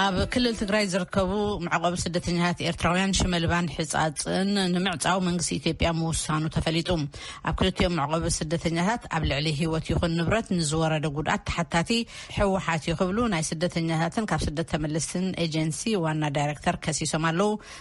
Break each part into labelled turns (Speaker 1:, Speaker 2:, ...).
Speaker 1: ኣብ ክልል ትግራይ ዝርከቡ መዕቆቢ ስደተኛታት ኤርትራውያን ሽመልባን ሕጻጽን ንምዕጻው መንግስቲ ኢትዮጵያ ምውሳኑ ተፈሊጡ። ኣብ ክልቲኦም መዕቆቢ ስደተኛታት ኣብ ልዕሊ ህይወት ይኹን ንብረት ንዝወረደ ጉድኣት ተሓታቲ ህወሓት እዩ ክብሉ ናይ ስደተኛታትን ካብ ስደት ተመልስትን ኤጀንሲ ዋና ዳይረክተር ከሲሶም ኣለዉ።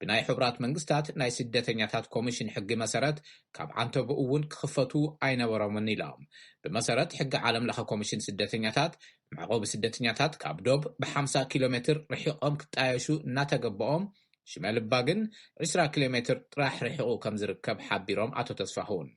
Speaker 2: ብናይ ሕቡራት መንግስታት ናይ ስደተኛታት ኮሚሽን ሕጊ መሰረት ካብ ዓንተቦኡ እውን ክኽፈቱ ኣይነበሮምን ኢሎም። ብመሰረት ሕጊ ዓለም ለኸ ኮሚሽን ስደተኛታት፣ መዕቖቢ ስደተኛታት ካብ ዶብ ብሓምሳ ኪሎ ሜትር ርሒቖም ክጣየሹ እናተገበኦም ሽመልባ ግን ዕስራ ኪሎ ሜትር ጥራሕ ርሒቑ ከምዝርከብ ሓቢሮም ኣቶ ተስፋሁን።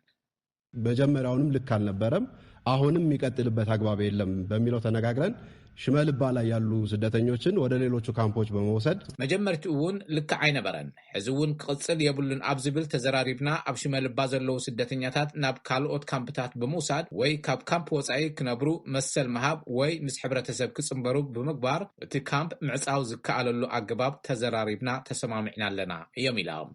Speaker 2: መጀመሪያውንም
Speaker 3: ልክ አልነበረም አሁንም የሚቀጥልበት አግባብ የለም በሚለው ተነጋግረን ሽመልባ ላይ ያሉ ስደተኞችን ወደ ሌሎቹ ካምፖች በመውሰድ መጀመርትኡ እውን
Speaker 2: ልክ ኣይነበረን ሕዚ እውን ክቕፅል የብሉን ኣብ ዝብል ተዘራሪብና ኣብ ሽመልባ ዘለዉ ስደተኛታት ናብ ካልኦት ካምፕታት ብምውሳድ ወይ ካብ ካምፕ ወፃኢ ክነብሩ መሰል ምሃብ ወይ ምስ ሕብረተሰብ ክፅምበሩ ብምግባር እቲ ካምፕ ምዕፃው ዝከኣለሉ ኣገባብ ተዘራሪብና ተሰማሚዕና ኣለና እዮም ኢሎም።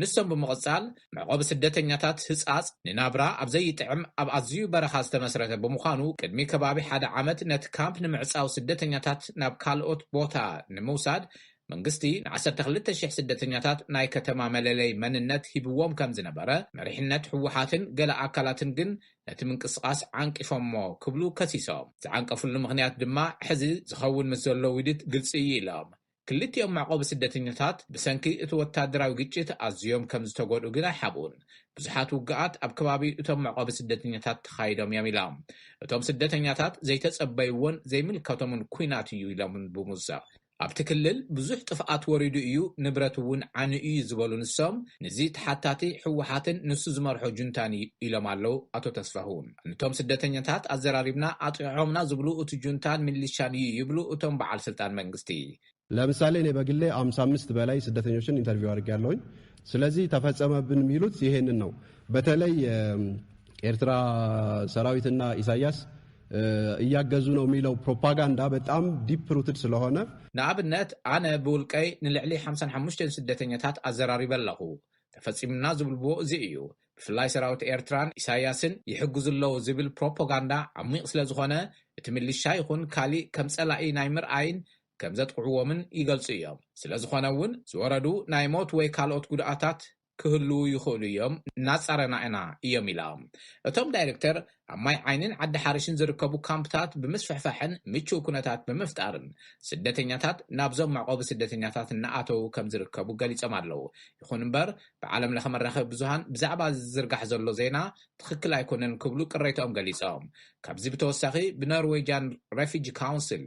Speaker 2: ንሶም ብምቕጻል፣ መዕቆቢ ስደተኛታት ህጻጽ ንናብራ ኣብ ዘይጥዕም ኣብ ኣዝዩ በረኻ ዝተመስረተ ብምዃኑ፣ ቅድሚ ከባቢ ሓደ ዓመት ነቲ ካምፕ ንምዕጻው ስደተኛታት ናብ ካልኦት ቦታ ንምውሳድ መንግስቲ ንዓሰርተ ክልተ ሽሕ ስደተኛታት ናይ ከተማ መለለይ መንነት ሂብዎም ከም ዝነበረ፣ መሪሕነት ህወሓትን ገለ ኣካላትን ግን ነቲ ምንቅስቓስ ዓንቂፎሞ ክብሉ ከሲሶም። ዝዓንቀፍሉ ምኽንያት ድማ ሕዚ ዝኸውን ምስ ዘሎ ውዲት ግልጺ እዩ ኢሎም። ክልቲኦም መዕቆቢ ስደተኛታት ብሰንኪ እቲ ወተሃደራዊ ግጭት ኣዝዮም ከም ዝተጎድኡ ግን ኣይሓብኡን። ብዙሓት ውግኣት ኣብ ከባቢ እቶም መዕቆቢ ስደተኛታት ተኻይዶም እዮም ኢላ። እቶም ስደተኛታት ዘይተጸበይዎን ዘይምልከቶምን ኲናት እዩ ኢሎምን ብሙዘቕ። ኣብቲ ክልል ብዙሕ ጥፍኣት ወሪዱ እዩ፣ ንብረት እውን ዓንዩ እዩ ዝበሉ ንሶም፣ ንዚ ተሓታቲ ህወሓትን ንሱ ዝመርሖ ጁንታን እዩ ኢሎም ኣለው ኣቶ ተስፋሁን። ንቶም ስደተኛታት ኣዘራሪብና ኣጥቂዖምና ዝብሉ እቲ ጁንታን ሚሊሻን እዩ ይብሉ እቶም በዓል ስልጣን መንግስቲ። ለምሳሌ እኔ
Speaker 3: በግሌ ሃምሳ አምስት በላይ ስደተኞችን ኢንተርቪው አድርጌያለሁኝ ስለዚህ ተፈጸመብን የሚሉት ይሄንን ነው በተለይ ኤርትራ ሰራዊትና ኢሳያስ እያገዙ ነው የሚለው ፕሮፓጋንዳ በጣም ዲፕ ሩትድ ስለሆነ ንኣብነት
Speaker 2: ኣነ ብውልቀይ ንልዕሊ ሓምሳን ሓሙሽተን ስደተኛታት ኣዘራሪበ ኣለኹ ተፈጺምና ዝብልዎ እዚ እዩ ብፍላይ ሰራዊት ኤርትራን ኢሳይያስን ይሕግዙ ኣለዉ ዝብል ፕሮፖጋንዳ ዓሚቕ ስለ ዝኾነ እቲ ምልሻ ይኹን ካሊእ ከም ጸላኢ ናይ ምርኣይን ከም ዘጥቕዕዎምን ይገልጹ እዮም። ስለ ዝኾነ እውን ዝወረዱ ናይ ሞት ወይ ካልኦት ጉድኣታት ክህልዉ ይኽእሉ እዮም እናጻረና ኢና እዮም ኢላ እቶም ዳይረክተር። ኣብ ማይ ዓይኒን ዓዲ ሓርሽን ዝርከቡ ካምፕታት ብምስፍሕፋሕን ምቹው ኩነታት ብምፍጣርን ስደተኛታት ናብዞም መዕቆቢ ስደተኛታት እናኣተዉ ከምዝርከቡ ገሊፆም ኣለው። ይኹን እምበር ብዓለም ለኸ መራኸቢ ብዙሃን ብዛዕባ እዚ ዝዝርጋሕ ዘሎ ዜና ትኽክል ኣይኮነን ክብሉ ቅሬትኦም ገሊፆም። ካብዚ ብተወሳኺ ብኖርዌጂያን ረፊጂ ካውንስል፣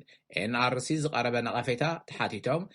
Speaker 2: NRC፣ ዝቐረበ ነቐፌታ ተሓቲቶም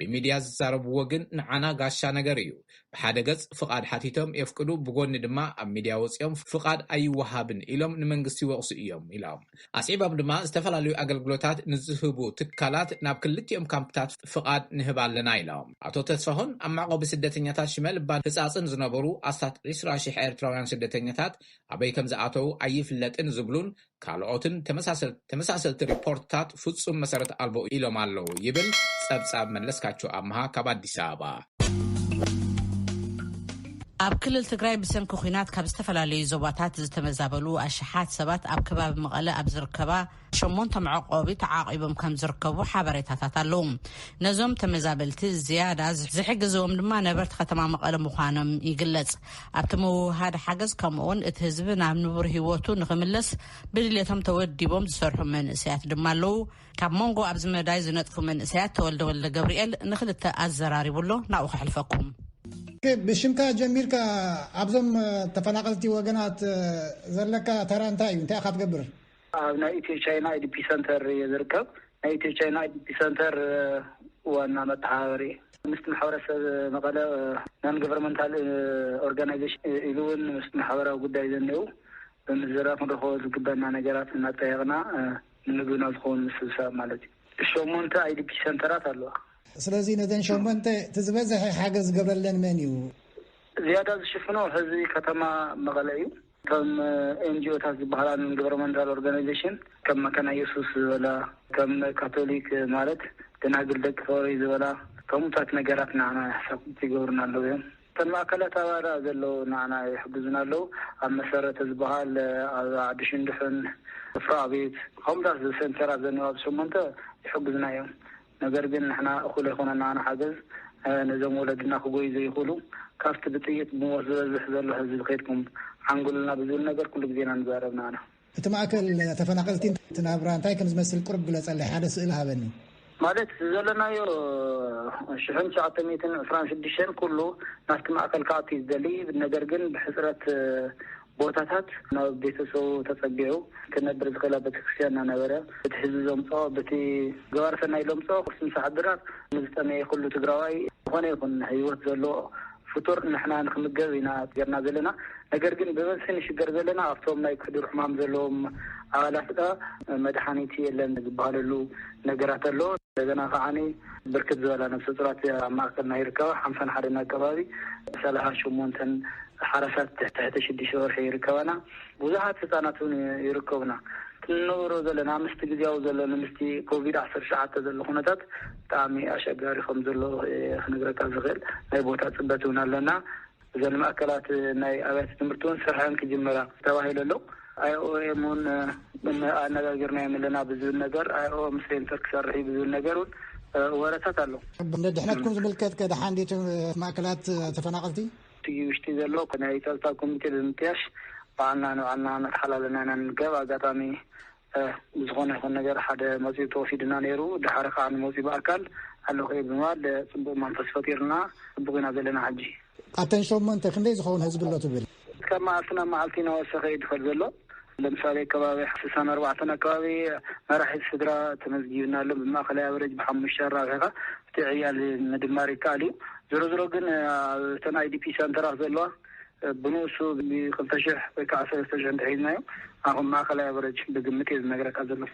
Speaker 2: ብሚድያ ዝዛረብዎ ግን ንዓና ጋሻ ነገር እዩ። ብሓደ ገፅ ፍቓድ ሓቲቶም የፍቅዱ ብጎኒ ድማ ኣብ ሚድያ ወፂኦም ፍቓድ ኣይወሃብን ኢሎም ንመንግስቲ ይወቕሱ እዮም ኢሎም። ኣስዒቦም ድማ ዝተፈላለዩ ኣገልግሎታት ንዝህቡ ትካላት ናብ ክልቲኦም ካምፕታት ፍቓድ ንህብ ኣለና ኢሎም። ኣቶ ተስፋሁን ኣብ መዕቖቢ ስደተኛታት ሽመልባን ህፃፅን ዝነበሩ ኣስታት ዕስራ ሽሕ ኤርትራውያን ስደተኛታት ኣበይ ከምዝኣተው ኣይፍለጥን ዝብሉን ካልኦትን ተመሳሰልቲ ሪፖርትታት ፍፁም መሰረት ኣልቦ ኢሎም ኣለው ይብል ፀብፃብ መለስካቸው ኣምሃ ካብ ኣዲስ ኣበባ።
Speaker 1: ኣብ ክልል ትግራይ ብሰንኪ ኲናት ካብ ዝተፈላለዩ ዞባታት ዝተመዛበሉ ኣሽሓት ሰባት ኣብ ከባቢ መቐለ ኣብ ዝርከባ ሸሞንተ መዕቆቢ ተዓቂቦም ከም ዝርከቡ ሓበሬታታት ኣለዉ ነዞም ተመዛበልቲ ዝያዳ ዝሕግዝዎም ድማ ነበርቲ ከተማ መቐለ ምዃኖም ይግለጽ ኣብቲ ምውህሃድ ሓገዝ ከምኡ ውን እቲ ህዝቢ ናብ ንቡር ሂወቱ ንኽምለስ ብድሌቶም ተወዲቦም ዝሰርሑ መንእሰያት ድማ ኣለዉ። ካብ መንጎ ኣብዚ መዳይ ዝነጥፉ መንእሰያት ተወልደ ወልደገብርኤል ንኽልተ ኣዘራሪቡ ኣሎ ናብኡ ከሕልፈኩም። ብሽምካ
Speaker 4: ጀሚርካ ኣብዞም ተፈናቐልቲ ወገናት ዘለካ ተራ እንታይ እዩ እንታይ ኢኻ ትገብር? ኣብ ናይ ኢትዮ
Speaker 5: ቻይና ኣይዲፒ ሰንተር እየ ዝርከብ። ናይ ኢትዮ ቻይና ኣይዲፒ ሰንተር ዋና መተሓባበሪ እየ። ምስቲ ማሕበረሰብ መቐለ ናን ገቨርመንታል ኦርጋናይዜሽን ኢሉ እውን ምስ ማሕበራዊ ጉዳይ ዘኒኤው ብምዝርራብ ክንረኽቦ ዝግበና ነገራት እናጠየቕና ንምግብና ዝኸውን ምስብሳብ ማለት እዩ። ሸሞንተ ኣይዲፒ ሰንተራት ኣለዋ። ስለዚ ነዘን
Speaker 4: ሸሞንተ እቲ ዝበዝሐ ሓገዝ ዝገብረለን መን እዩ? ዝያዳ
Speaker 5: ዝሽፍኖ ህዝቢ ከተማ መቐለ እዩ። ከም ኤንጅኦታት ዝበሃላ ነን ግቨርመንታል ኦርጋናይዜሽን ከም መካና የሱስ ዝበላ ከም ካቶሊክ ማለት ደናግል ደቂ ፎሮይ ዝበላ ከምኡታት ነገራት ንዓና ሕሳብቲ ይገብሩና ኣለዉ እዮም እተን ማእከላት ኣባራ ዘለዉ ንዓና ይሕግዙና ኣለዉ ኣብ መሰረተ ዝበሃል ኣብ ዓዲ ሽንዱሕን ወፍራ ኣቤት ከምኡታት ዘሰንተራት ዘንባብ ሸሞንተ ይሕግዙና እዮም ነገር ግን ንሕና እኹል ኣይኮነና ንሓገዝ ነዞም ወለድና ክጎዩ ዘይኽእሉ ካብቲ ብጥይት ብሞት ዝበዝሕ ዘሎ ህዝቢ ከድኩም ዓንግሉልና ብዝብል ነገር ኩሉ ግዜ ኢና ንዛረብ ንኣና። እቲ ማእከል
Speaker 4: ተፈናቀልቲ እቲ ናብራ እንታይ ከም ዝመስል ቁሩብ ግለጸለይ ሓደ ስእሊ ሃበኒ። ማለት
Speaker 5: ዘለናዮ ሽሕን ትሽዓተ ሚእትን ዕስራን ሽዱሽተን ኩሉ ናብቲ ማእከል ክኣቱ እዩ ዝደሊ ነገር ግን ብሕጽረት ቦታታት ናብ ቤተሰቡ ተጸጊዑ ክነብር ዝኽእል ኣብ ቤተክርስትያን እናነበረ በቲ ህዝቢ ዘምጽኦ በቲ ገባሪ ሰናይ ለምጽኦ ቁርሲ ምሳሕ ድራር ንዝጠመየ ኩሉ ትግራዋይ ዝኾነ ይኹን ህይወት ዘለዎ ፍጡር ንሕና ንክምገብ ኢና ገርና ዘለና ነገር ግን ብበዝሒ ንሽገር ዘለና ኣብቶም ናይ ክዱር ሕማም ዘለዎም ኣባላት መድሓኒት የለን ዝበሃለሉ ነገራት ኣሎ እንደገና ከዓኒ ብርክት ዝበላ ነብሰፁራት ኣብ ማእከልና ይርከባ፣ ሓምሳን ሓደን ኣከባቢ ሰላሳን ሸሞንተን ሓራሳት ትሕቲ ሽዱሽተ ወርሒ ይርከባና፣ ብዙሓት ህፃናት እውን ይርከቡና። እቲ ንነብሮ ዘለና ምስቲ ግዝያዊ ዘሎ ንምስቲ ኮቪድ ዓሰርተ ትሽዓተ ዘሎ ኩነታት ብጣዕሚ ኣሸጋሪ ከምዘሎ እየ ክነግረካ ዝኽእል፣ ናይ ቦታ ፅበት እውን ኣለና። እዘን ማእከላት ናይ ኣብያተ ትምህርቲ እውን ስርሐን ክጅምራ ተባሂሉ ኣሎ። ኣይኦኤም እውን ኣነጋጊርናዮም ኣለና ብዝብል ነገር ኣይኦኤም ሴንተር ክሰርሕ እዩ ብዝብል ነገር እውን ወረታት ኣሎ። ንድሕነትኩም ዝምልከት
Speaker 4: ከ ደሓን ድዩ እቲ ማእከላት ተፈናቐልቲ? እቲ ውሽጢ
Speaker 5: ዘሎ ናይ ፀጥታ ኮሚቴ ብምጥያሽ ባዕልና ንባዕልና እናተሓላለና ኢና ንርከብ። ኣጋጣሚ እህ ብዝኾነ ይኹን ነገር ሓደ መጺኡ ተወሲዱና ነይሩ ደሓር ኸኣ ንመጺኡ ብኣካል ኣለኹ እየ ብምባል ጽቡቕ መንፈስ ፈጢሩና ጽቡቕ ኢና ዘለና ሕጂ። ኣተን ሸሞንተ
Speaker 4: ክንደይ ዝኸውን ህዝቢ ኣሎ ትብል? ካብ መዓልቲ ናብ
Speaker 5: መዓልቲ ናወሰኸ እዩ ድኸድ ዘሎ ለምሳሌ ከባቢ ስሳን ኣርባዕተን ኣከባቢ መራሒ ስድራ ተመዝጊብና ኣሎ ብማእኸላይ ኣቨረጅ ብሓሙሽተ ኣራብሒኻ እቲ ዕያል ምድማር ይከኣል እዩ ዞሮ ዞሮ ግን ኣብተን ኣይዲፒ ሰንተራት ዘለዋ ብንኡሱ ብ ክልተ ሽሕ ወይ ክዓ ሰለስተ ሽሕ እንተሒዝናዮ ኣብ ማእኸላይ ኣቨረጅ ብግምት እየ ዝነግረካ ዘለኹ።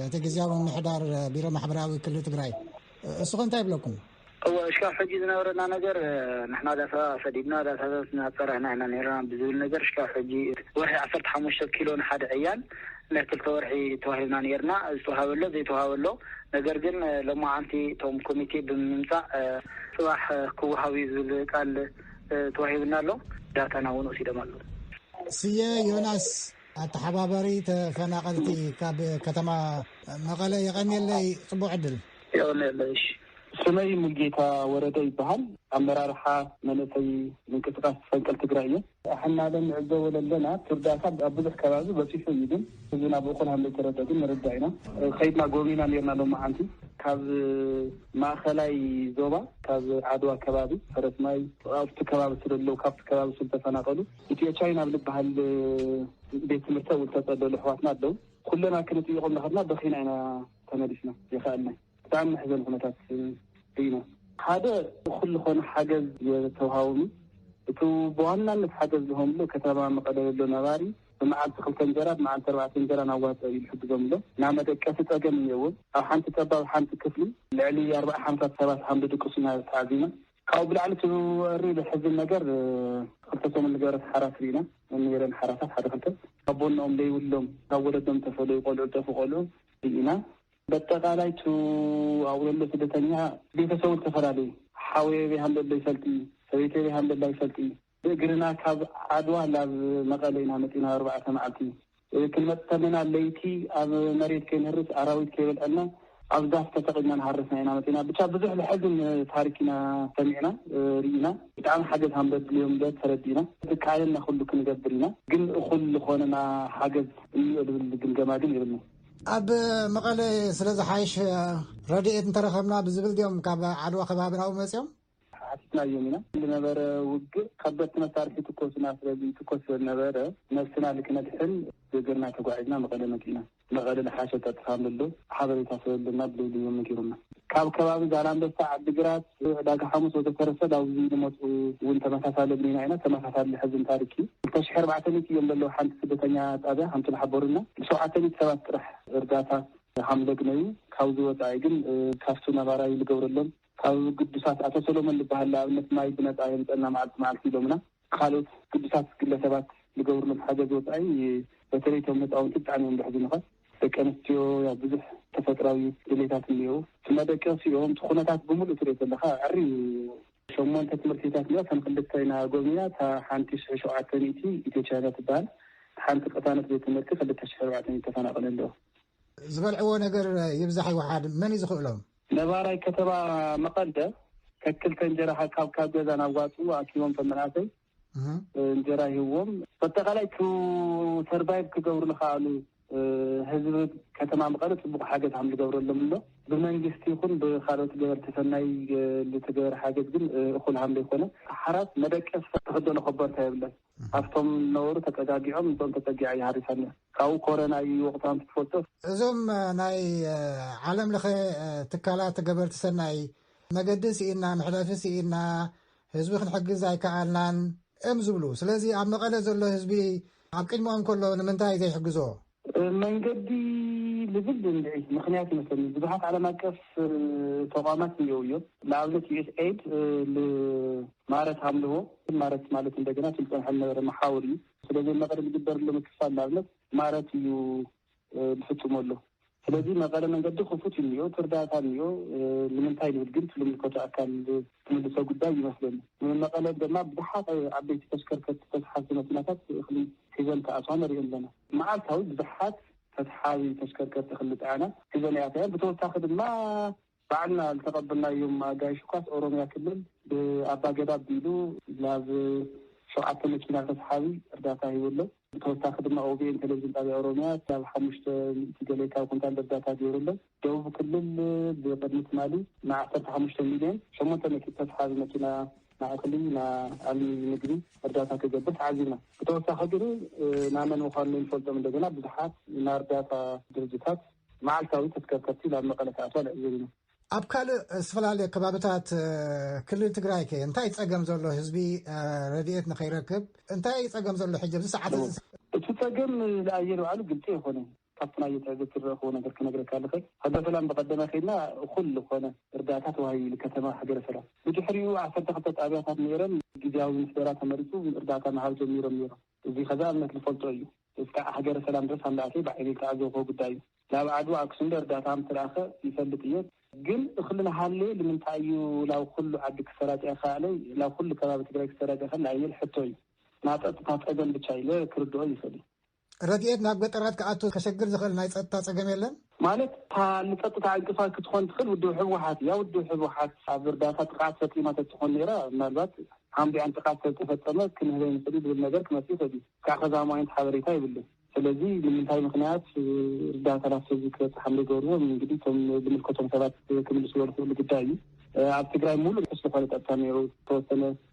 Speaker 5: እቲ ግዝያዊ
Speaker 4: ምምሕዳር ቢሮ ማሕበራዊ ክሊ ትግራይ እሱኸ እንታይ ይብለኩም? እወ እሽካዕ ሕጂ
Speaker 5: ዝነበረና ነገር ንሕና ዳሳታት ሰዲድና ዳሳታት እናፀረህና ኢና ነይርና ብዝብል ነገር እሽካዕ ሕጂ ወርሒ ዓሰርተ ሓሙሽተ ኪሎ ንሓደ ዕያን ናይ ክልተ ወርሒ ተዋሂብና ነይርና ዝተውሃበ ኣሎ ዘይተውሃበ ኣሎ ነገር ግን ሎማዓንቲ እቶም ኮሚቴ ብምምፃእ ፅባሕ ክውሃብ እዩ ዝብል ቃል ተዋሂቡና ኣሎ። ዳታና እውን ወሲዶም ኣለዉ።
Speaker 4: ስየ ዮናስ ኣተሓባባሪ ተፈናቐልቲ ካብ ከተማ መቐለ የቐንየለይ ፅቡቕ ዕድል። የቐንየለይ
Speaker 5: እሺ። ስመይ
Speaker 6: ሙልጌታ ወረደ ይበሃል። ኣመራርሓ መንእሰይ ምንቅስቃስ ፈንቅል ትግራይ እየ። ኣሕና ለንዕዘቦ ለለና እቲ እርዳታ ኣብ ብዙሕ ከባቢ በፂሑ እዩ ግን ህዝብና ናብኡ ከም ዘይተረድኦ ግን ንርዳእ ኢና። ከይድና ጎብኒና ኔርና ሎማዓንቲ ካብ ማእኸላይ ዞባ ካብ ዓድዋ ከባቢ ፈረስማይ ኣብቲ ከባቢ ስለለዉ ካብቲ ከባቢ ስለተፈናቐሉ ኢትዮ ቻይና ኣብ ልብሃል ቤት ትምህርቲ ኣብኡ ዝተፀለሉ ኣሕዋትና ኣለዉ ኩለና ክንጥይቖም እናኸድና በኺና ኢና ተመሊስና ዘይኸኣልና ብጣዕሚ መሕዘኒ ኩነታት ርኢና ሓደ እኹል ዝኾነ ሓገዝ የተውሃቡም እቲ ብዋናነት ሓገዝ ዝህቦም ዘሎ ከተማ መቐለ ዘሎ ነባሪ ብመዓልቲ ክልተ እንጀራ ብመዓልቲ ኣርባዕተ እንጀራን ኣዋጽኦ እዩ ዝሕግዞም ኣሎ። ናይ መደቀሲ ጸገም እኒኦዎም። ኣብ ሓንቲ ጠባብ ሓንቲ ክፍሊ ልዕሊ ኣርባዓ ሓምሳ ሰባት ሃም ድድቅሱ ኢና ተዓዚብና። ካብኡ ብላዕሊ እቲ ወሪ ዘሕዝን ነገር ክልተ ሰሙን ዝገበረት ሓራስ ርኢና። ነይረን ሓራሳት ሓደ ክልተ ኣቦነኦም ዘይብሎም ካብ ወለዶም ዝተፈለዩ ቆልዑ ዝጠፍኡ ቆልዑ ርኢና። በጠቓላይ እቲ ኣውለሎ ስደተኛ ቤተሰቡ ዝተፈላለዩ ሓወይ ኣበይ ሃምበሎ ይፈልጥ እዩ፣ ሰበይተይ ኣበይ ሃምበላ ይፈልጥ እዩ፣ ብእግርና ካብ ዓድዋ ናብ መቐለ ኢና መፂእና ኣብ ኣርባዕተ መዓልቲ። ክንመፅእ ተለና ለይቲ ኣብ መሬት ከይንህርስ ኣራዊት ከይበልዐና ኣብ ዛፍ ተሰቒልና እናሃረስና ኢና መፂእና። ብቻ ብዙሕ ለሐዝን ታሪክ ኢና ሰሚዕና ሪኢና። ብጣዕሚ ሓገዝ ሃምበድልዮም ለ ተረዲእና። ዝከኣለና ኩሉ ክንገብር ኢና ግን እኹል ልኾነና ሓገዝ እኒኦ ልብል ግምገማ ግን የብልናን። ኣብ
Speaker 4: መቐለ ስለዝሓይሽ ረድኤት እንተረኸብና ብዝብል ድዮም ካብ ዓድዋ ከባቢ ናብኡ መፂኦም? ሓቲትናዮም
Speaker 6: ኢና። ዝነበረ ውግእ ከበድቲ መሳርሒ ይትኮሱና ስለዝይትኮስ ስለዝነበረ ነብስና ልክነድሕን ገገርና ተጓዒዝና መቐለ መጺእና። መቐለ ልሓሸ ጸጥታ ኣሎዶ ሓበሬታ ስለዘሎና ብልይሊ እዮም ነጊሩና። ካብ ከባቢ ዛላንበሳ፣ ዓዲግራት፣ ዕዳጋ ሓሙስ ወዘተረፈ ላብዚ ልመጹ እውን ተመሳሳሊ እብሊና ኢና። ተመሳሳሊ ልሕዝን ታሪክ እዩ። ክልተ ሽሕ ኣርባዕተ ሚእቲ እዮም ለለዉ ሓንቲ ስደተኛ ጣብያ ከምቲ ልሓበሩና ንሸውዓተ ሚእቲ ሰባት ጥራሕ እርዳታ ሃምለግነዩ። ካብዚ ወጻኢ ግን ካብቲ ነባራይ ልገብረሎም ካብ ግዱሳት ኣቶ ሰሎሞን ልበሃል ልኣብነት ማይ ብነጻ የምጸና መዓልቲ መዓልቲ ኢሎምና። ካልኦት ግዱሳት ግለ ሰባት ልገብሩሎም ሓገዝ ወጻኢ በተለይ እቶም ህጻውንቲ ብጣዕሚ እዮም ልሕዝኑኻ። ደቂ ኣንስትዮ ያው ብዙሕ ተፈጥራዊ ድሌታት እንየዉ። እቲ መደቀሲኦም እቲ ኩነታት ብምሉኡ ትሪኦ ተለኻ ዕሪ እዩ። ሸሞንተ ትምህርቲታት እንየዋ እተን ክልተ ኢና ጎብኒና እታ ሓንቲ ሽሕ ሸውዓተ ሚእቲ ኢትዮ ቻይና ትበሃል እታ ሓንቲ ቅታነት ቤት ትምህርቲ ክልተ ሽሕ ኣርባዕተ ሚእቲ ተፈናቅለ ኣለዉ። ዝበልዕዎ
Speaker 4: ነገር ይብዛሕ ይውሓድ መን እዩ ዝኽእሎም? ነባራይ ከተማ
Speaker 6: መቐለ ከክልተ እንጀራ ሃብካብ ካብ ገዛ ናብ ዋፅኡ ኣኪቦም ቶም መናእሰይ እንጀራ ሂዎም በጠቓላይ ቱ ሰርቫይቭ ክገብሩ ልኸኣሉ ህዝቢ ከተማ መቐለ ፅቡቅ ሓገዝ ሃም ዝገብረሎም ኣሎ ብመንግስቲ ይኹን ብካልኦት ገበርቲ ሰናይ ልትገበር ሓገዝ ግን እኹል ሃም ዘይኮነ ሓራት መደቀስ ተክደሎ ከበርታ የብለን ኣብቶም ዝነበሩ ተጸጋጊዖም ንሶም ተጸጊዓ እያ ሃሪሳኒያ ካብኡ ኮረና እዩ ወቅቱ ኣንቲ ትፈልጦ። እዞም
Speaker 4: ናይ ዓለም ለኸ ትካላት ገበርቲ ሰናይ መገዲ ስኢና መሕለፊ ስኢና ህዝቢ ክንሕግዝ ኣይከኣልናን እም ዝብሉ ስለዚ ኣብ መቐለ ዘሎ ህዝቢ ኣብ ቅድሞኦም ከሎ ንምንታይ ዘይሕግዞ መንገዲ
Speaker 6: ልብል እንድዒ ምኽንያት ይመስለኒ ብዙሓት ዓለም ኣቀፍ ተቋማት እኒኦው እዮም ንኣብነት ዩኤስ ኤድ ል ማረት ሃምልዎ ማረት ማለት እንደገና እቲ ዝፀንሐ ዝነበረ መሓውር እዩ ስለዚ መቐለ ዝግበርሎ ምክፋል ንኣብነት ማረት እዩ ዝፍፅሞ ኣሎ ስለዚ መቐለ መንገዲ ክፉት እዩ እኒኦ ትርዳታ እኒኦ ንምንታይ ንብል ግን ትልምልከቱ ኣካል ትምልሶ ጉዳይ ይመስለኒ መቐለ ድማ ብዙሓት ዓበይቲ ተሽከርከርቲ ተስሓቲ መኪናታት ክሊ ሒዘን ክኣትዋ ንርኢ ኣለና። መዓልታዊ ብዙሓት ተተሓዚ ተሽከርከርቲ ክሊ ጽዐና ሒዘን ይኣትያ እየን። ብተወሳኺ ድማ ባዕልና ዝተቐበልናዮም ኣጋይሽ እኳስ ኦሮሚያ ክልል ብኣባገዳ ኣቢሉ ናብ ሸውዓተ መኪና ተተሓዚ እርዳታ ሂቡ ኣሎ። ብተወሳኺ ድማ ኦቢኤን ቴሌቭዥን ጣብያ ኦሮሚያ ክሳብ ሓሙሽተ ሚእቲ ገሌካዊ ኩንታል እርዳታ ገይሩ ኣሎ። ደቡብ ክልል ብቅድሚ ትማሊ ን ዓሰርተ ሓሙሽተ ሚልዮን ሸሞንተ ሚእቲ ተስሓቢ መኪና ን እኽሊ ን ኣልሚ ምግቢ እርዳታ ክገብር ተዓዚብና። ብተወሳኺ ግን ን መን ምዃኑ ነይንፈልጦም እንደገና ብዙሓት ን ኣርዳታ ድርጅታት መዓልታዊ ተስከርከርቲ ናብ መቐለ ክኣትዋ ንዕዘብ ኢና። ኣብ ካልእ
Speaker 4: ዝተፈላለየ ከባብታት ክልል ትግራይ ከ እንታይ እዩ ፀገም ዘሎ ህዝቢ ረድኤት ንከይረክብ እንታይ እዩ ፀገም ዘሎ ሕጂ ኣብዚ ሰዓት እዚ? እቲ ፀገም
Speaker 6: ንኣየር ባዕሉ ግልፂ ኣይኮነን። ካብቲ ናይ ትዕዝብቲ ዝረኣኹዎ ነገር ክነግረካ ዝኽእል፣ ሃገረ ሰላም ብቀደመ ከይድና እኹል ዝኾነ እርዳእታ ተዋሂቡሉ ከተማ ሃገረ ሰላም። ብድሕሪኡ ዓሰርተ ክልተ ጣብያታት ነይረን ግዝያዊ ምምሕደራ ተመሪፁ እርዳእታ ምሃብ ጀሚሮም ነይሮም። እዙይ ከዛ እምነት ዝፈልጦ እዩ። እስካዕ ሃገረ ሰላም ድረስ ኣንዳኣተየ ብዓይነይ ዝተዓዘብኹዎ ጉዳይ እዩ። ናብ ዓድዋ ኣክሱም ዶ እርዳእታ ምተልኣኸ ይፈልጥ እየ። ግን እኽሊ ናሃለየ ልምንታይ እዩ ላብ ኹሉ ዓዲ ክሰራጨ ይኻኣለ ላብ ኹሉ ከባቢ ትግራይ ክሰራጨ ይኽእል ኣይብል ሕቶ እዩ። ናፀጥታ ፀገም ብቻ ኢለ ክርድኦ ይኽእል እየ። ረድኤት ናብ
Speaker 4: ገጠራት ክኣቱ ከሸግር ዝኽእል ናይ ፀጥታ ፀገም የለን? ማለት እታ ንፀጥታ
Speaker 6: ዕንቅፋት ክትኾን ትኽእል ውድብ ህወሓት እያ። ውድብ ህወሓት ኣብ እርዳታ ጥቕዓት ፈፂማ ተትኾን ነይራ ምናልባት ሓምቢዕን ጥቕዓት ስለዝተፈፀመ ክንህበ ንኽእል እዩ ዝብል ነገር ክመፅእ ይኽእል እዩ። ክሳዕ ኸዚ ኣማኢንት ሓበሬታ የብሉን። ስለዚ ንምንታይ ምኽንያት እርዳታ ናብቲ ህዝቢ ክበፅሕ ከምዘይገበርዎ እንግዲህ እቶም ዝምልከቶም ሰባት ክምልስዎ ዝኽእሉ ጉዳይ እዩ። ኣብ ትግራይ ሙሉእ ርሑስ ዝኾነ ፀጥታ ነይሩ ዝተወሰነ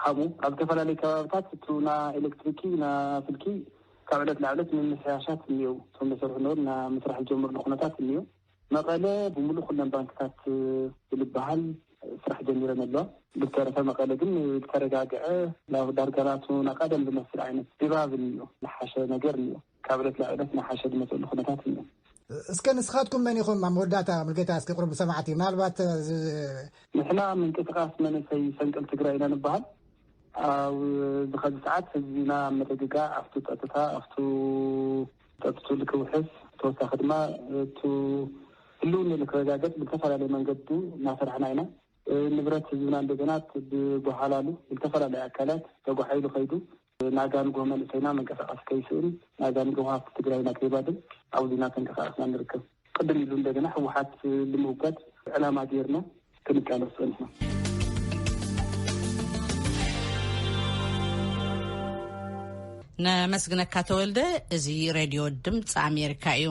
Speaker 6: ካብኡ ኣብ ዝተፈላለዩ ከባብታት እቱ ና ኤሌክትሪኪ ና ስልኪ ካብ ዕለት ላዕ ዕለት ምምሕያሻት እኒኤው እቶም ለሰርሑ ነሩ እና ምስራሕ ዝጀምርሉ ኩነታት እኒኤው መቐለ ብምሉእ ኩለን ባንክታት ብልበሃል ስራሕ ጀሚረን ኣለዋ ብዝተረፈ መቐለ ግን ዝተረጋግዐ ናብ ዳርጋናቱ ናቃደም ዝመስል ዓይነት ድባብ እኒኤው ዝሓሸ ነገር እኒኤው። ካብ ዕለት ናብ ዕለት እናሓሸ ዝመፀሉ ኩነታት እኒኦ። እስከ ንስኻትኩም
Speaker 4: መን ኢኹም? ኣብ መወዳእታ ምልከታ እስከ ቅርቡ ሰማዕቲ ምናልባት እዚ።
Speaker 6: ንሕና ምንቅስቓስ መንእሰይ ፈንቅል ትግራይ ኢና ንበሃል። ኣብዚ ኸዚ ሰዓት ህዝቢና ኣብ ምርግጋእ ኣብቱ ፀጥታ ኣብቱ ፀጥትኡ ልክውሕስ ተወሳኺ ድማ እቱ ህልውንኡ ልክረጋገፅ ብልተፈላለየ መንገዱ እናሰራሕና ኢና። ንብረት ህዝብና እንደገና ብጓሓላሉ ብልተፈላለየ ኣካላት ተጓሒሉ ከይዱ ናጋንጎ መንእሰይና መንቀሳቐሲ ከይስእን ናጋን ጎሃፍቲ ትግራይና ከይባድም ኣብዙ እናተንቀሳቐስና ንርከብ። ቅድም ኢሉ እንደገና ህወሓት ልምውጋድ ዕላማ ገይርና ክንቃለስ ፀኒሕና።
Speaker 1: ነመስግነካ ተወልደ። እዚ ሬድዮ ድምፂ ኣሜሪካ እዩ።